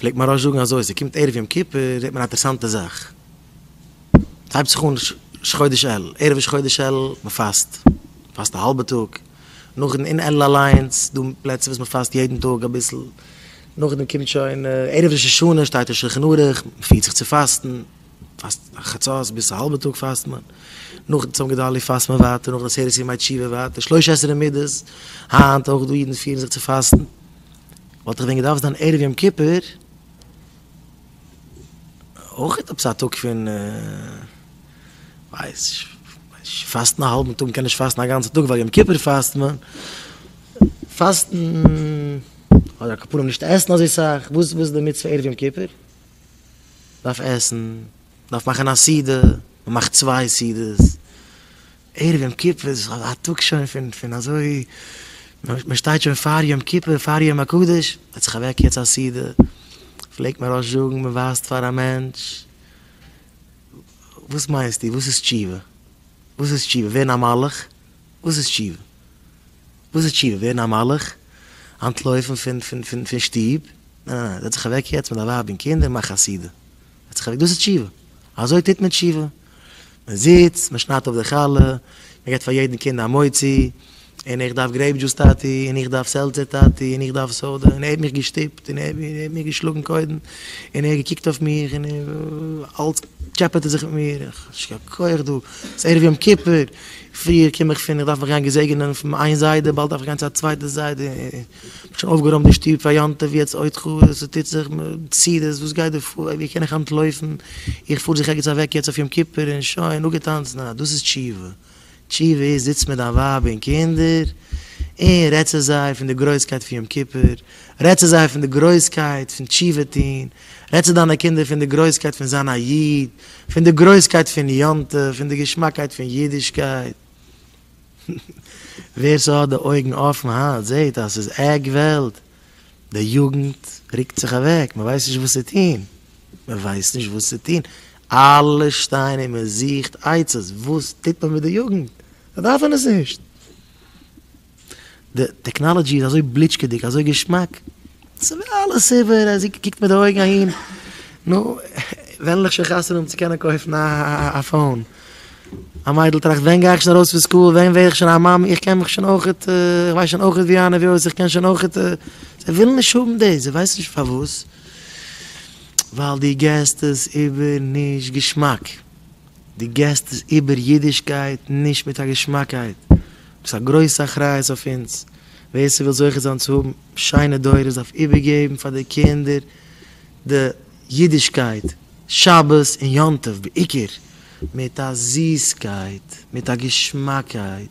פלעגט מוהראש זאגן אזוי, ס'קומט ערב יום כיפור זעט מען א אטערסאנטע זאך, ס'הייבט זיך אן ראש חודש אלול, ערב ראש חודש אלול מ'פאסט, מ'פאסט א האלבע טאג, נאכדעם אין אלול אליינס, דא פלעצער וואס מ'פאסט יעדן טאג אביסל, נאכדעם קומט שוין ערב ראש השנה שטייט אין שלחן ערוך, מ'פירט זיך צו פאסטן, מ'פאסט חצות ביז א האלבע טאג פאסט מען, נאכן צום גדלי' פאסט מען ווייטער, נאכן עשרת ימי תשובה ווייטער, שלושה עשר מידות, היינט אויך דא אידן פירן זיך צו פאסטן. וואלט איך ווען געדארפט זיין ערב יום כיפור אויך עפעס א טאג פון ווייסניש, פאסטן א האלבן טאג, מ'קען נישט פאסטן א גאנצע טאג ווייל יום כיפור פאסט מען, פאסטן אדער כפרה נישט עסן אזוי סאך, וואס איז די מצוה ערב יום כיפור? דארף עסן, דארף מאכן א סעודה, מ'מאכט צוויי סעודות. ערב יום כיפור איז א טאג שוין פון פון אזוי, מען שטייט שוין פאר יום כיפור פאר יום הקדוש, עס האט זיך אוועק יעצט א סידור, פלעגט מען ראש זאגן מען ווייזט פאר א מענטש, וואס מיינסטו וואס איז תשובה? וואס איז תשובה? ווערן א מלאך? וואס איז תשובה? וואס איז תשובה? ווערן א מלאך? אנטלויפן פון פון פון שטוב? ניין ניין ניין, עס האט זיך אוועק יעצט מיט א ווייב און קינדער מאך א סידור. האט זיך ערלעדיגט דאס איז תשובה, אזוי טוט מען תשובה, מען זיצט, מען שניידט אפ די חלה, מען געבט פאר יעדן קינד א מוציא, און איך דארף גרעיפ דזשוס טאטי, און איך דארף סעלצער טאטי, און איך דארף סאדע, און ער האט מיך געשטופט, און ער האט מיך געשלאגן קודם, און ער האט געקוקט אויף מיך, און אלץ טשעפעט ער זיך מיט מיר, איך האב נישט קיין כח דא, ס'איז ערב יום כיפור, פריער קום איך פון איך דארף מיך גיין געזעגענען פון איין זיידע, באלד דארף איך גיין צו א צווייטע זיידע, שוין אויפגערוימט די שטוב פאר יום טוב יעצט עוד חו ו ס'טוט זיך מציאות וואס גייט דא פאר ווי קען איך אנטלויפן איך פאר זיך ערגעץ אוועק יעצט אויף יום כיפור און שוין אפגעטאנצן אה דאס איז תשובה תשובה איז זיץ מיט דיין ווייב און קינדער און רעד צו זיי פון די גרויסקייט פון יום כיפור רעד צו זיי פון די גרויסקייט פון תשובה טון רעד צו דיינע קינדער פון די גרויסקייט פון זיין א איד פון די גרויסקייט פון יום טוב פון די געשמאקייט פון אידישקייט. ווער ס'האט די אויגן אפן היינט זעהט אז ס'איז עק וועלט, די יוגנט רוקט זיך אוועק, מ'ווייסט נישט וואס צו טוהן, מ'ווייסט נישט וואס צו טוהן, אלע שטייען און מ'זוכט עצות, וואס טוט מען מיט די יוגנט, זיי דארפן עס נישט. די טעקנאלעדזשי איז אזוי בליטשקעדיג אזוי געשמאק, ס'ווער אלעס איבער אז זי קוקט מיט די אויגן אהין, נו, ווען עלעך שוין חתונה האבן צו קענען קויפן א פאון, א מיידל טראכט ווען גיי איך שוין ארויס פון סקול, ווען ווער איך שוין א מאמע, איך קען מיך שוין אויכעט, איך ווייס שוין אויכעט ווי אהן און ווי אויס, איך קען שוין אויכעט, זיי ווילן נישט האבן דאס, זיי ווייסן נישט פארוואס, ווייל דו געסט עס איבער נישט געשמאק. די געסט איז איבער אידישקייט, נישט מיט א געשמאקייט. דאס איז א גרויסע אחריות אויף אונז. ווער ס'וויל זוכה זיין צו האבן שיינע דורות דארף איבערגעבן פאר די קינדער די אידישקייט, שבת און יום טוב בעיקר, מיט א זיסקייט, מיט א געשמאקייט.